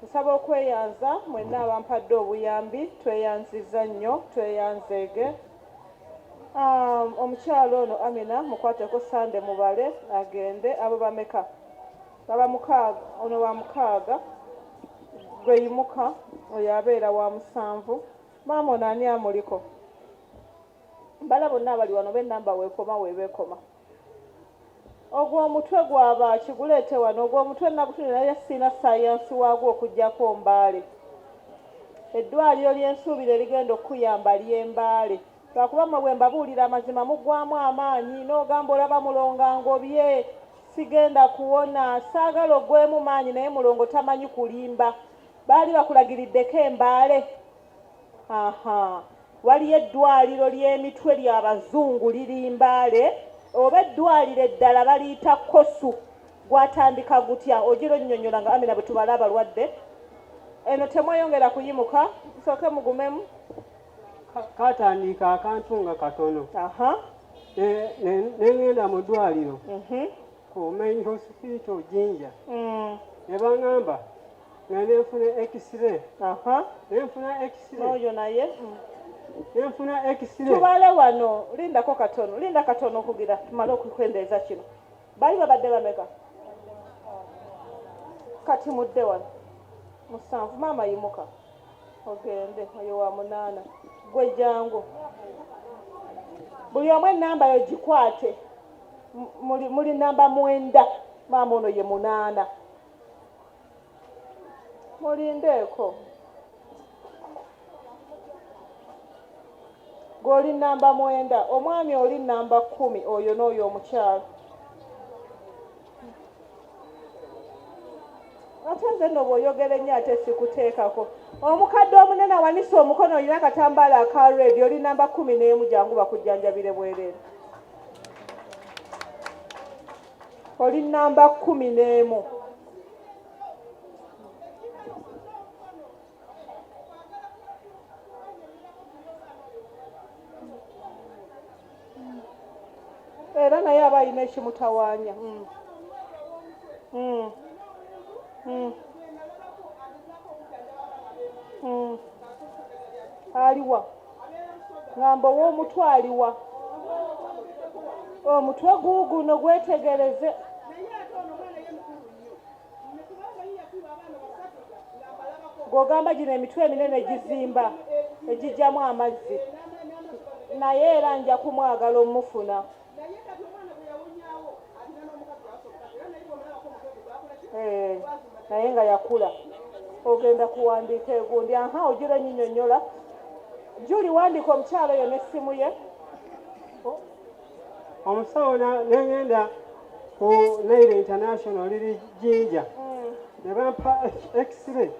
Nsaba okweyanza mwenna abampadde obuyambi tweyanzizza nnyo tweyanzeege um, omukyala ono Amina mukwateko Sande mubale agende abo bameka baba mukaaga ono wa mukaaga gwe yimuka oyo abeera wa musanvu maama ono ani amuliko bala bonna abali wano benamba wekoma webekoma Ogwo omutwe gwa baaki? Guleete wano. Ogwo omutwe nagutunulira naye sirina ssaayansi waagwo okuggyako Mbale. Eddwaaliro lye nsuubira erigenda okukuyamba ly'e Mbale. Lwakuba mmwe bwe mbabuulira amazima muggwaamu amaanyi n'ogamba olaba Mulongo angobye, sigenda kuwona. Saagala oggweemu maanyi naye Mulongo tamanyi kulimba. Baali bakulagiriddeko e Mbale? aha waliyo eddwaliro ly'emitwe ly'abazungu liri mbaale oba eddwaliro eddala baliyita kosu gwatandika gutya ogira onnyonnyola nga amina bwe tubala abalwadde eno temweyongera kuyimuka nsooke mugumemu katandiika akantu nga katono nengenda mu ddwaliro mhm. ku main hospital jinja mm. ne bangamba nga nenfuna x-ray nenfuna x-ray oyo naye mm. nenfuna x-ray tubale wano lindako katono linda katono okugira tumale okukwendeeza kino bali babadde bameka kati mudde wano musanvu maama yimuka ogende oyo wa munaana gwe jangu buli omu enamba yo gikwate muli namba mwenda maama ono ye munaana mulindeeko gweoli namba mwenda omwami oli namba kumi oyo n'oyo omukyalo ate nze no bwoyogera ennyo ate sikuteekako omukadde omunene awanise omukono olina akatambaala aka redi oli namba kumi n'emu jangu bakujjanjabire bwereere oli namba kumi n'emu era naye aba alina ekimutawaanya mm. Mm. Mm. Mm. aliwa ngamba ow'omutwe aliwa omutwe guuguno gwetegereze gw'ogamba gino emitwe eminene gizimba egijjamu amazzi naye era nja kumwagala omufuna eh, naye nga yakula ogenda kuwandiika egundi aha ogira enyinyonyola juli wandiika omukyalo yo nessimu ye omusawo nengenda ku naire international liri jinja mm. ne bampa x-ray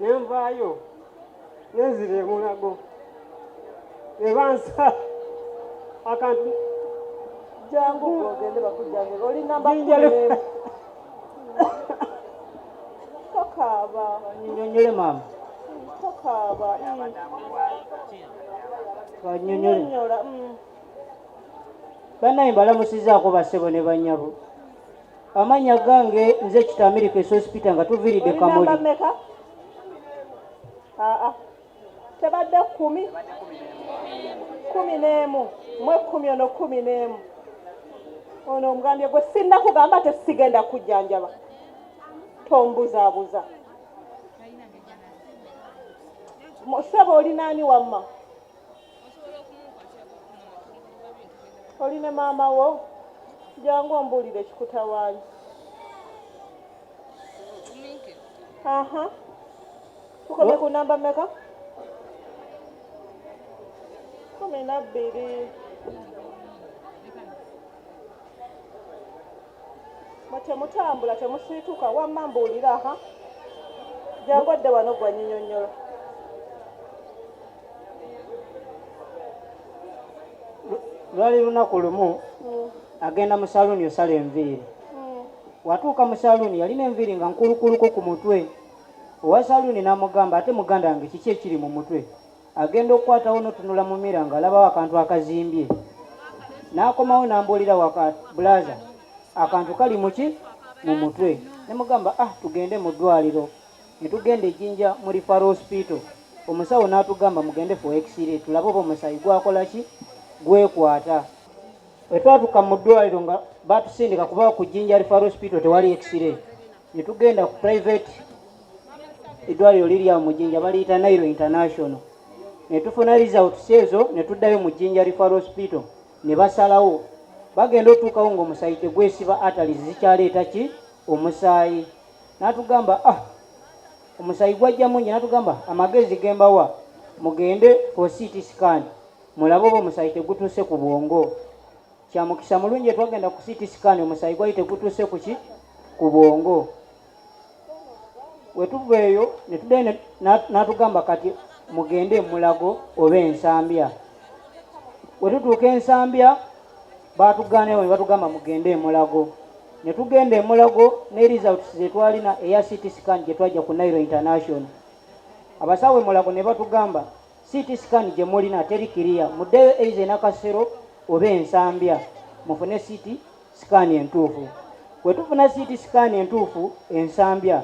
nenvaayo nenzira emulago ne bansa akantu jangu ogende bakujjanjaba oli namba tokaaba nyonyole maama tokaaba banyonyola mm. banaye mbalamusizaako basebo ne banyabo amanya gange nze kitamiriko esospita nga tuviridde kamuli ah, ah. tebadde kumi kumi n'emu mwe kumi ono kumi n'emu ono omugambye gwe sinna kugamba tesigenda kujjanjaba tombuzabuza Sebo oli nani wamma? Oli ne maama wo? Jangu ombuulire kikutawaanya. Aha. Tukomye ku namba mmeka? Kumi na bbiri. Mwe temutambula temusiituka wamma mbuulira aha jangu adde wano gwa nyinyonnyola lwali lunaku lumu mm. agenda mu saluuni osala enviiri mm. watuuka mu saluuni yalina enviiri nga nkulukuluko ku mutwe owa saluuni n'amugamba ate muganda wange kiki ekiri mu mutwe agenda okukwatawo notunula mu mira nga alabawo akantu akazimbye nakomawo nambuulira waka bulaza akantu kali muki mu mutwe nemugamba ah tugende mu ddwaliro netugenda ejinja mu rifar hospital omusawo natugamba mugende fo exire tulabe oba omusayi gwakola ki gwekwata wetwatuka mu ddwaliro nga batusindika kuba ku jinja rifar hospital tewali exire ne tugenda ku private eddwaliro liri awo mu Jinja baliyita Nairo International ne tufuna results ezo ne tuddayo mu Jinja Referral Hospital ne basalawo bagenda otuukawo ng'omusaayi tegwesiba atali zikyaleeta ki omusaayi n'atugamba ah omusaayi gwajja mungi n'atugamba amagezi gembawa mugende for city scan mulabe oba omusaayi tegutuuse ku bwongo kya mukisa mulungi etwagenda ku city scan omusaayi gwali tegutuuse kuki ku bwongo wetuva eyo netudayo natugamba kati mugende emulago oba ensambya wetutuuka ensambya batugaanayo nebatugamba mugende emulago netugenda emulago ne results zetwalina eya city scan gyetwajja ku nairo international abasawo emulago nebatugamba CT scan gye mulina teri kiriya, muddeyo eiza enakasero oba ensambya mufune CT scan entuufu. Bwe tufuna CT scan entuufu ensambya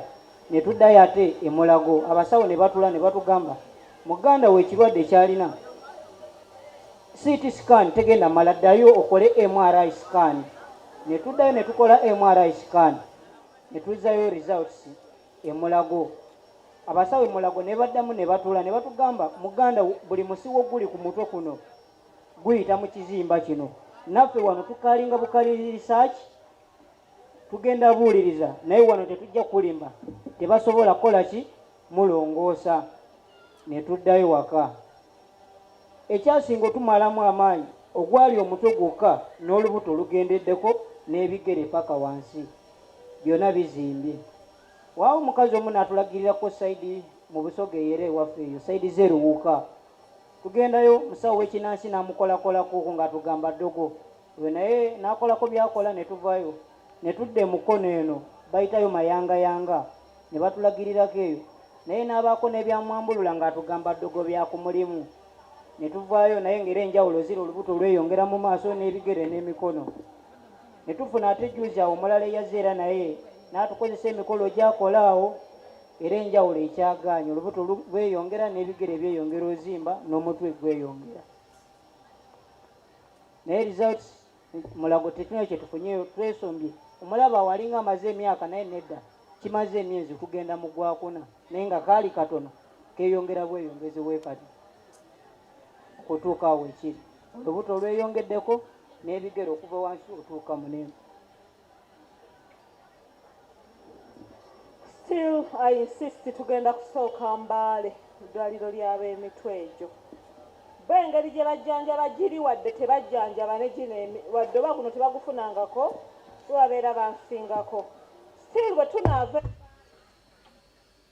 ne tuddayo ate emulago abasawo ne batula ne batugamba muganda we ekirwadde kyalina CT scan tegenda mala ddayo okole MRI scan ne tuddayo ne tukola MRI scan ne tuzzayo results. e Mulago abasawo e Mulago ne baddamu ne batuula ne batugamba muganda buli musiwo guli ku mutwe kuno guyita mu kizimba kino naffe wano tukalinga bukalirisaaki tugenda buuliriza naye wano tetujja kulimba tebasobola kukola ki mulongoosa ne tuddayo waka Ekyasinga otumalamu amaanyi ogwali omutwe gwokka n'olubuto lugendeddeko n'ebigere paka wansi byona bizimbye. Waawo omukazi omu natulagirira ko side mu Busoga eyera ewaffe eyo side ze Luwuka. Tugendayo musawo wekinansi namukolakolako nga atugamba ddogo. we naye n'akolako byakola ne tuvayo ne tudda emukono eno bayitayo mayangayanga ne batulagirirako eyo naye n'abaako n'ebyamwambulula ng'atugamba ddogo bya ku mulimu ne tuvaayo naye ng'era enjawulo zira olubuto lweyongera mu maaso n'ebigere n'emikono ne tufuna ate juzi awo omulala eyazze era naye n'atukozesa emikolo gyakola awo era enjawulo ekyagaanya olubuto lweyongera n'ebigere byeyongera ozimba n'omutwe gweyongera naye results mulago tetuna kyetufunyeyo twesombye omulaba walinga amaze emyaka naye nedda kimaze emyezi kugenda mu gwakuna naye nga kaali katono keyongera bweyongezi wekati okutuuka awo ekiri olubuto olweyongeddeko n'ebigere okuva wansi otuuka munene still i insist tugenda kusooka mbaale eddwaliro ly'ab'emitwe egyo bo engeri gye bajjanjaba giri wadde tebajjanjaba ne gino wadde oba guno tebagufunangako babeera bansingako still bwe tunaava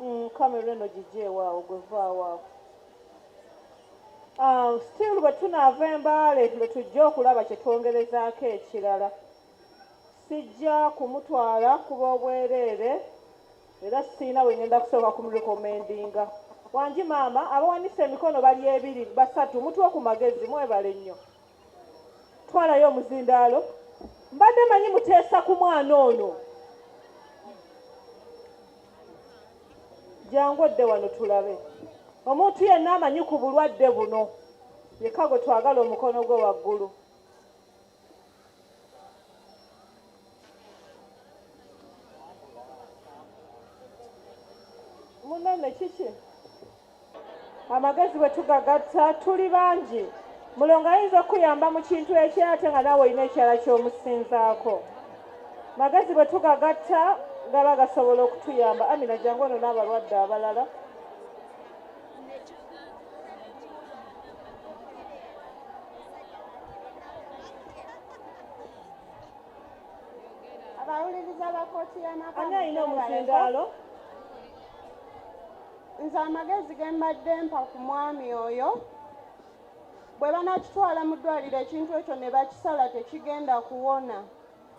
Mm, kamera eno gigyeewaawo gwe vaawaawo ah, still bwe tunaava embaale lwe tujja okulaba kye twongerezaako ekirala sijja kumutwala kuba obwereere era siina we ngenda kusooka kumurekomendinga wangi maama abawanise emikono bali ebiri basatu mutuwe ku magezi mwebale nnyo twalayo omuzindaalo mbadde manyi muteesa ku mwana ono jangu odde wano tulabe omuntu yenna amanyi ku bulwadde buno yekka gwe twagala omukono gwe waggulu munene kiki amagezi bwe tugagatta tuli bangi mulongo ayinza okukuyamba mu kintu ekirala ate nga naawe olina ekirala ky'omusinzaako magezi bwe tugagatta gaba gasobola okutuyamba amina jangu ono n'abalwadde abalala abawuliriza bakooti y'amaka ani alina omuzindaalo nze amagezi ge mbadde mpa ku mwami oyo bwe banakitwala mu ddwaliro ekintu ekyo ne bakisala tekigenda kuwona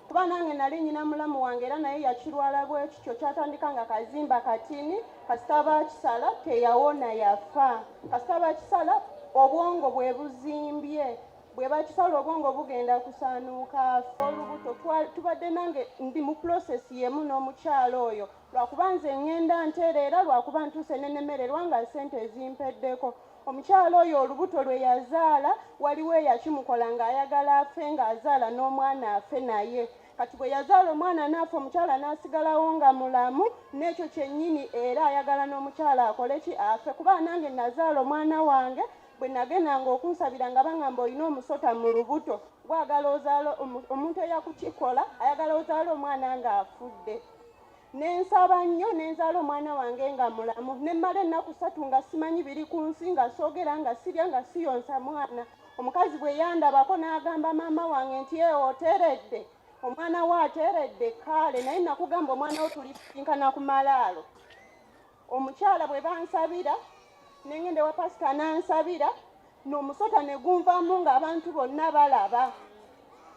kuba nange nali nyina mulamu wange era naye yakirwala bwekityo kyatandika nga kazimba katini kasita bakisala teyawona yafa kasita bakisala obwongo bwe buzimbye bwe bakisala obwongo bugenda kusaanuuka afa olubuto tubadde nange ndi mu pulosesi yemu n'omukyalo oyo lwakuba nze ŋŋenda nteera era lwakuba ntuuse ne nemererwa nga ssente ezimpeddeko omukyala oyo olubuto lwe yazaala waliwo eyakimukola ng'ayagala afe ng'azaala n'omwana afe naye kati bwe yazaala omwana naafe omukyala n'asigalawo nga mulamu n'ekyo kyennyini era ayagala n'omukyala akole ki afe kuba nange nazaala omwana wange bwe nagendanga okunsabira nga bangamba olina omusota mu lubuto gwagala ozaala omuntu eyakukikola ayagala ozaala omwana ng'afudde nensaba nnyo nenzaala omwana wange nga mulamu nemmala ennaku satu nga simanyi biri ku nsi nga soogera nga sirya nga siyonsa mwana omukazi bwe yandabako n'agamba maama wange nti ee oteredde omwana we ateredde kaale naye nakugamba omwana wo tulisinkana ku malaalo omukyala bwe bansabira nengende wa pasita nansabira n'omusota ne gunvamu ng'abantu bonna balaba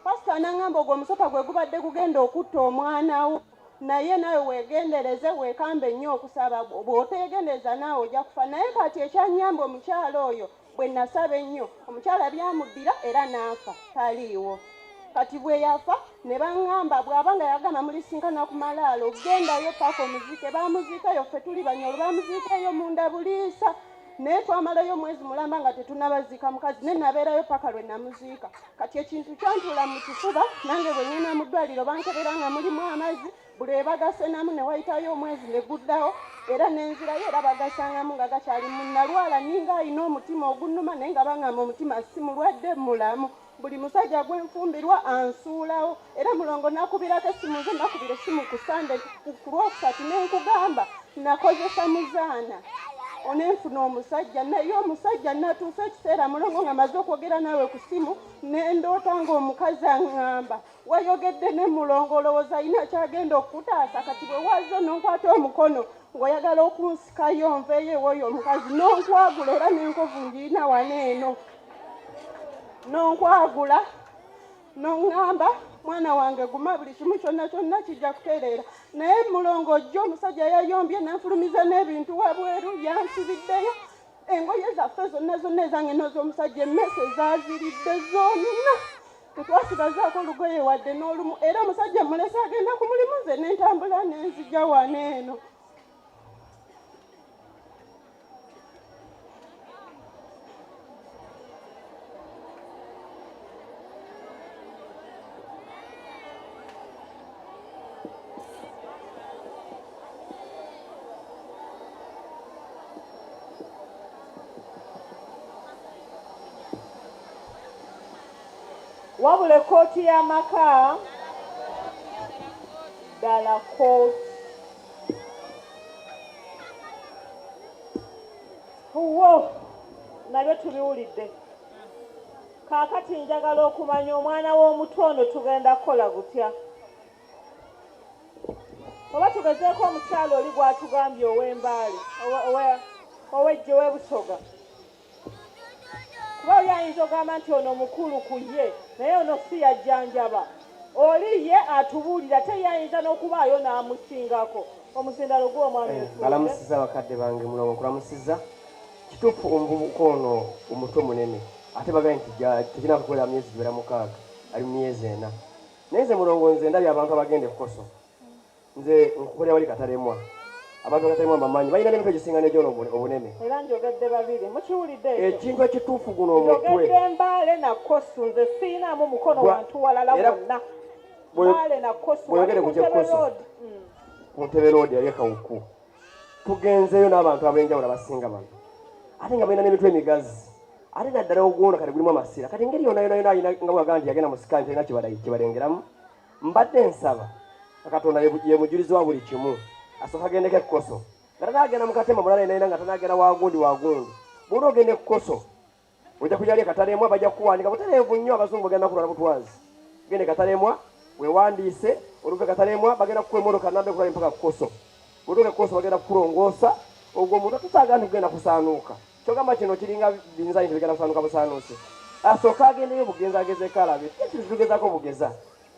pasita nangamba ogwo omusota gwe gubadde gugenda okutta omwana wo naye nawe wegendereze wekambe nnyo okusaba bwotegendereza naawe ojja kufa naye kati ekyanyamba omukyalo oyo bwe nasaba ennyo omukyala byamuddira era n'afa taliiwo kati bwe yafa ne baŋŋamba bw'aba nga yagamba mulisinkana ku malaalo gendayo paaka omuziike baamuziikayo ffe tuli banyolo baamuziikayo munda buliisa naye twamalayo omwezi mulamba nga tetunabaziika mukazi naye nabeerayo paka lwe namuziika kati ekintu kyantula mu kifuba nange bwe ŋŋenda mu ddwaliro bankebera nga mulimu amazzi buli ebagasenamu ne wayitayo omwezi ne guddawo era nenzirayo era bagasangamu nga gakyali munalwala ninga alina omutima ogunuma naye nga bangamba omutima si mulwadde mulamu buli musajja gwenfumbirwa ansuulawo era mulongo nakubirako essimu nze nakubira essimu ku sande ku lwokusatu nenkugamba nakozesa muzaana onenfuna omusajja naye omusajja natuusa ekiseera mulongo nga maze okwogera naawe ku ssimu nendoota ngaomukazi aŋŋamba wayogedde ne mulongo olowooza alina kyagenda okukutaasa kati bwe wazze nonkwata omukono ng'oyagala okunsikayo nveeyo ewoyo omukazi nonkwagula era nenkovu ngirina wana eno nonkwagula noŋŋamba mwana wange guma buli kimu kyonna kyonna kijja kutereera naye mulongo ojja omusajja yayombye nenfulumiza n'ebintu wabweru yansibiddeyo engoye zaffe zonna zonna ezange nozomusajja emmese zaziridde zonna tetwasigazaako lugoye wadde n'olumu era omusajja mulesa agenda ku mulimu nze nentambula nenzija wano eno Wabula ekkooti y'amaka ddala kkooti. Wo nabyo tubiwulidde. Kaakati njagala okumanya omwana w'omutu ono tugenda kukola gutya? Oba tugezeeko omukyalo oli gw'atugambye ow'embaale ow'ejje w'ebusoga. kuba oli ayinza ogamba nti ono mukulu ku ye naye ono si yajjanjaba oli ye atubuulira te ye ayinza n'okubaayo n'amusingako omusindalo gw'omwami eh, balamusiza bakadde bange mulomo nkulamusiza kituufu omuvubuka ono omutwe munene ate bagaye nti tekina kukolera myezi giwera mukaaga ali mu myezi ena naye nze mulongo nze ndabye abantu abagenda ekkoso nze nkukulira wali katalemwa abantu bakatemwa bamanyi balina n'emitwe gisinga negyono obunene era njogedde babiri mukiwulidde ekintu ekituufu guno omutwe mbaale nakosu nze siinamu mukono wantu walala wonna mbaale nakosuwogere ku kyekoso mm. ku ntebe loodi yali ekawuku tugenzeeyo n'abantu ab'enjawulo abasinga bano ate nga balina n'emitwe emigazi ate naddala ogwona kati gulimu amasira kati engeri yona yona yona alina nga bwagaa nti yagenda mu sikaani talina kibalengeramu mbadde nsaba katonda yemujulizi wa buli kimu asooka agendeko ekkoso nga tanagenda mukatema mulala enaina nga tanagenda wagundi wagundi buli ogenda ekkoso ojja kujali ekatalemwa bajja kukuwandika butaleevu nnyo abazungu bagenda kulwala butwazi genda ekatalemwa wewandiise oluva ekatalemwa bagenda kukuwa emotoka namba ekulala empaka kukoso otuuka ekkoso bagenda kukulongoosa ogwo omuntu atusaagala nti kugenda kusaanuuka kyogamba kino kiringa biyinza bintu bigenda kusaanuka busaanuusi asooka ah, agendeyo bugenza agezeko alabe titugezako bugeza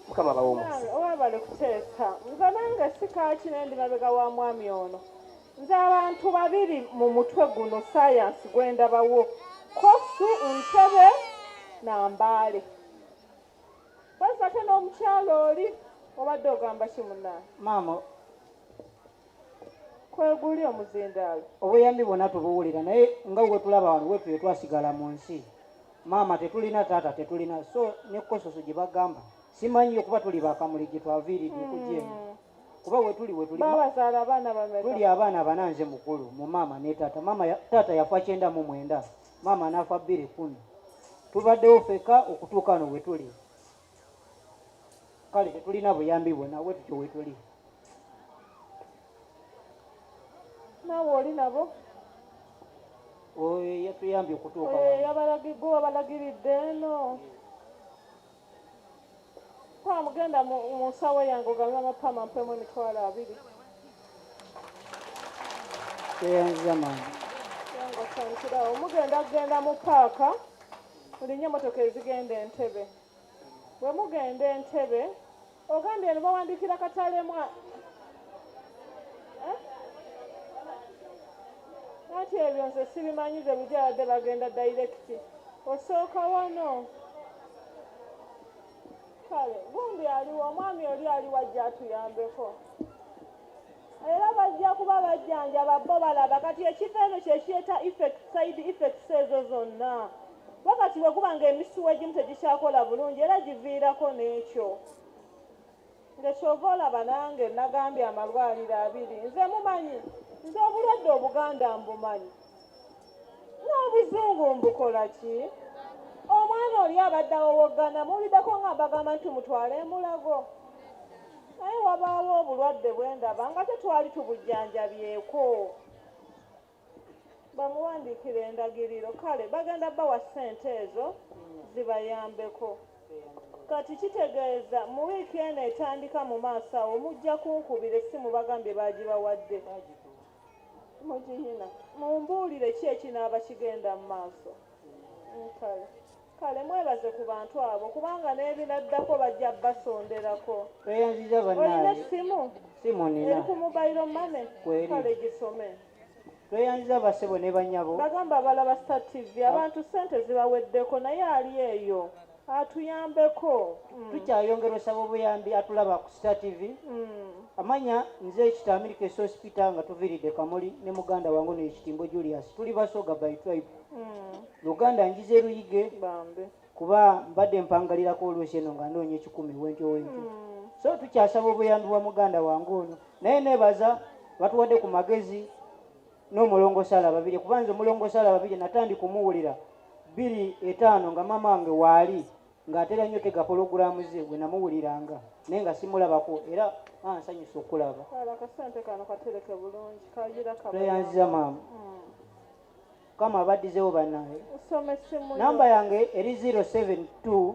mukama bawe omukisa webale kuteesa nze nange sikakina ndi mabega wa mwami ono nze abantu babiri mu mutwe guno sayansi gwendabawo kosu ntebe na mbaale bwezate n'omukyalo oli obadde ogamba kimunaa maama kweguli omuzindaalo obuyambi bwona tubuwulira naye nga wetulaba wano wetuyo twasigala mu nsi maama tetulina taata tetulina so ne kososo gye bagamba simanyi okuba tuli bakamuli gye twaviiridde okugyemu hmm. kuba wetuli wetuli tuli abaana bana nze mukulu mu maama ne taata maama taata yafa kyenda mu mwenda maama anaafa bbiri kumi tubaddewo feka okutuuka no wetuli kale tetulina buyambi bwona bwe tutyo wetuli naawe oli nabo oyo yatuyambye okutuuka yabalagigwe wabalagiridde eno kwamugenda mu nsawo yange ogambe amapama mpemu emitwalo abiri teyanzamani yangosantirawo mugenda kugenda mu paaka mulinye motoka ezigenda entebe bwe mugenda entebe ogambye eno bawandikira katalemwa eh? ati ebyo nze sibimanyi ze bijaladde bagenda dairekiti osooka wano kale gundi aliwo omwami oli aliwo ajja atuyambeko era bajja kuba bajjanjaba bo balaba kati ekiva eno kyekiyeta effect side effects ezo zonna bo kati bwe guba ng'emisuwa egimu tegikyakola bulungi era giviirako n'ekyo ngekyova olaba nange nagambye amalwaliro abiri nze mumanyi nze obulwadde obuganda mbumanyi n'obuzungu mbukola ki omwana oli abadde awowoggana muwulideko nga mbagamba nti mutwale emulago naye wabaawo obulwadde bwendaba nga tetwali tubujjanjabyeko bamuwandiikira endagiriro kale bagenda bawa ssente ezo zibayambeko kati kitegeeza mu wiiki eno etandika mu maaso awo mujja kunkubira essimu bagambye baagibawadde mugihina mumbuulire ki ekinaaba kigenda mu maaso kale kale mwebaze ku bantu abo kubanga n'ebinaddako bajja basonderako tweyanziza bannaye essimu simu nina eri ku mobile mane kale gisome tweyanziza bassebo ne banyabo bagamba abalaba star tv abantu ssente zibaweddeko naye ali eyo atuyambeko mm. tukyayongera osaba obuyambi atulaba ku star tv mm. amanya nze ekitamirika esospita nga tuviridde kamuli ne muganda wange no ekitimbo julius tuli basoga by tribe mm. uganda njiza eruyige kuba mbadde mpangalirako oluusi eno nga noonya ekikumi wentyo wentyo mm. so tukyasaba obuyambi bwa muganda wange ono naye nebaza batuwadde ku magezi n'omulongo sala babiri kuba nze omulongo sala babiri natandi kumuwulira biri etaano nga maama wange waali ng'atera nnyo tega pologulaamu ze gwe namuwuliranga naye nga simulabako era ansanyusa okulaba tweyanziza maama hmm. kama abaddizewo banaye namba yange eri 072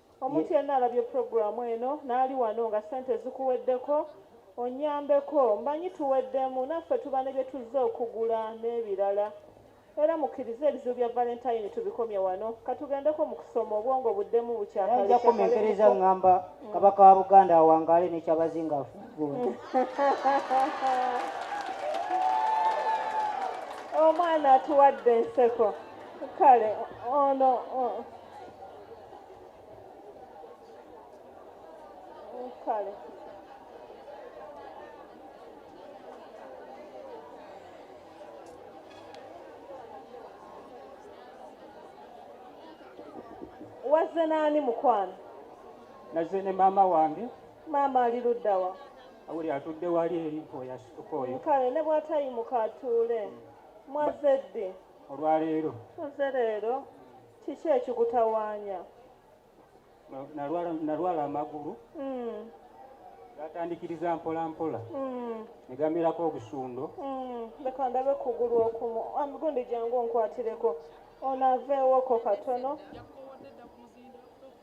omuntu yenna alabye puroguramu eno n'ali wano nga ssente zikuweddeko onyambeko mbanyi tuweddemu naffe tuba ne bye tuzze okugula n'ebirala era mukkirize ebizibu bya valentayini tubikomye wano katugendeko mu kusoma obwongo buddemu bukyakalakomenkereza ŋŋamba kabaka wa buganda awangaale nekyabazinga afuuguule omwana atuwadde enseko kale ono kale wazze n'ani mukwano nazze ne maama wange maama ali ludda wa awuli atudde wali eri mpoyasituka oyo kale ne bwatayimuka atuule mwazze ddi olwaleero oze leero kiki ekikutawaanya nalwala amagulu hmm. gatandikiriza mpola mpola hmm. negamirako obusundo hmm. leka ndabe kugulu okumu amigundi jangu onkwatireko onaveewoko katono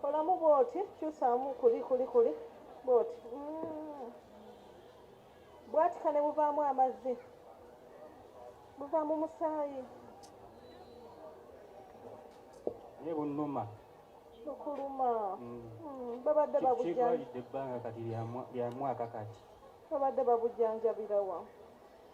kolamu bwoti kyusaamu kuli kuli kuli bwoti mm. bwatika ne buvaamu amazzi buva mu musaayi naye bunuma bukuluma mm. mm, babadde babujanjabirawa ebbanga kati lya mwaka kati babadde babujanjabirawa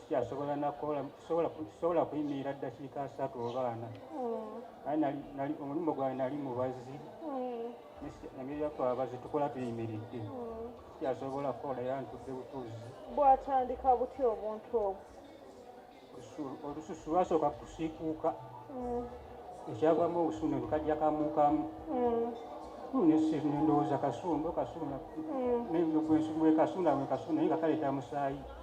sikyasobola nakukola sobola kuyimirira ddakiika asatu oba ana naye omulimu gwange nali mubazi emirimu yatwabazi tukola tuyimiridde sikyasobola kukola era ntudde butuzi bwatandika butya obuntu obwo olususu lwasooka kusiikuuka mm. ekyavamu obusuuno bikajja kamukamu mm. nendowooza kasundo kasuna mm. nendogwensumwekasuna wekasuna naye nga kaleeta musaayi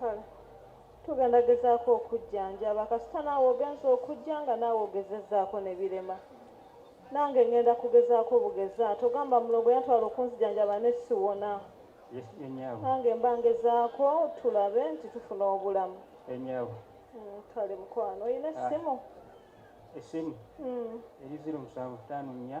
kale tugenda gezaako okujjanjaba kasita naawe ogenza okujja nga naawe ogezezzaako ne birema nange ngenda kugezaako bugeza togamba mulongo yantwala okunzijanjaba ne siwona nange mba ngezaako tulabe nti tufuna obulamu mm, kale mukwano olina ah. essimu essimu mm. eri ziro musanvu taano nnya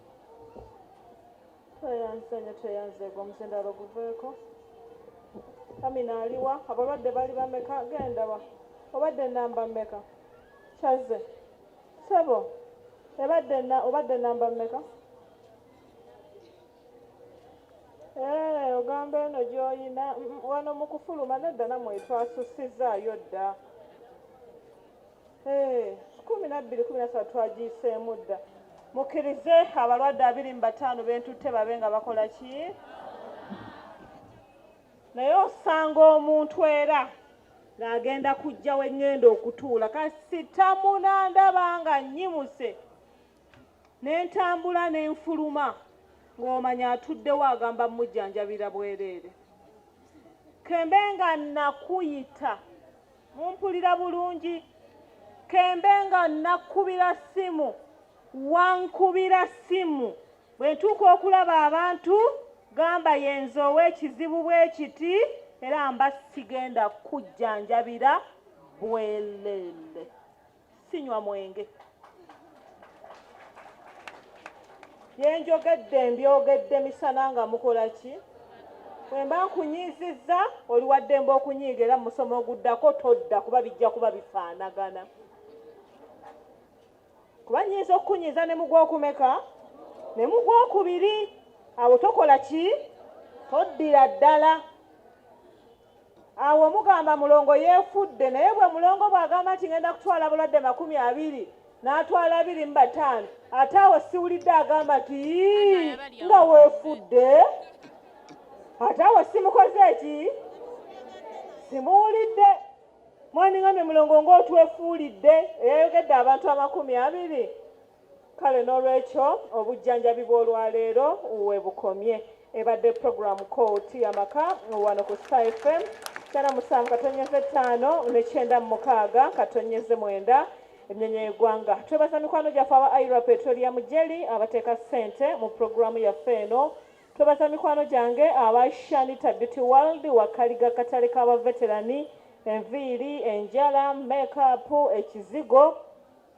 tweyanze nyo tweyanze gwe omuzindalo guveeko amina aliwa abalwadde bali bameka gendawa obadde namba meka kyaze sebo ebadde na obadde namba meka eh, ogamba eno gyoyina mm, mm, wano mukufuluma nedda namwe twasusizzaayo dda kumi nabbiri kumi nasatu twagiyiseemu dda mukkirize abalwadde abiri mu bataano bentutte babe nga bakola ki naye osanga omuntu era ng'agenda kujja wengenda okutuula kasita munandaba nga nnyimuse ne ntambula ne nfuluma ng'omanya atuddewo agamba mujjanjabira bwereere kembe nga nakuyita mumpulira bulungi kembe nga nakubira simu wankubira simu bwe ntuuka okulaba abantu gamba yenze ow'ekizibu bwekiti era mba sigenda kujjanjabira bwelele sinywa mwenge byenjogedde mbyogedde misana nga mukola ki wemba nkunyiizizza oli waddembe okunyiiga era musomo oguddako todda kuba bijja kuba bifaanagana kuba nyinza okukunyiiza ne mugwokumeka ne mugwokubiri awo tokola ki toddira ddala awo omugamba mulongo yeefudde naye bwe mulongo bw'agamba nti ngenda kutwala bulwadde makumi abiri n'atwala abiri mu bataano ate awo siwulidde agamba nti nga weefudde ate awo simukoze eki simuwulidde mwaningambye mulongo ng'otwefuulidde eyayogedde abantu amakumi abiri kale n'olwekyo obujjanjabi bw'olwaleero webukomye ebadde puroguramu kooti yamaka wano ku star fm kyana musanvu katonyeze ttaano nekyenda mu mukaaga katonyeze mwenda emnyonyo y'eggwanga twebaza mikwano gyaffe aba ira petrolia mujeli abateeka ssente mu puroguramu yaffe eno twebaza mikwano gyange aba shanita beauty world wakaliga katale k'abaveterani enviiri enjala mekapu ekizigo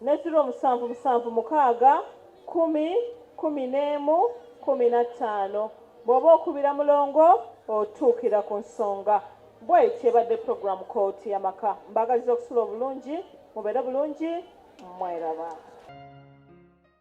ne ziro musanvu musanvu mukaaga kkumi kkumi n'emu kkumi na ttaano bw'oba okubira mulongo otuukira ku nsonga bw'etyo ebadde pulogulaamu kooti y'amaka mbaagaliza okusula obulungi mubeere bulungi mweraba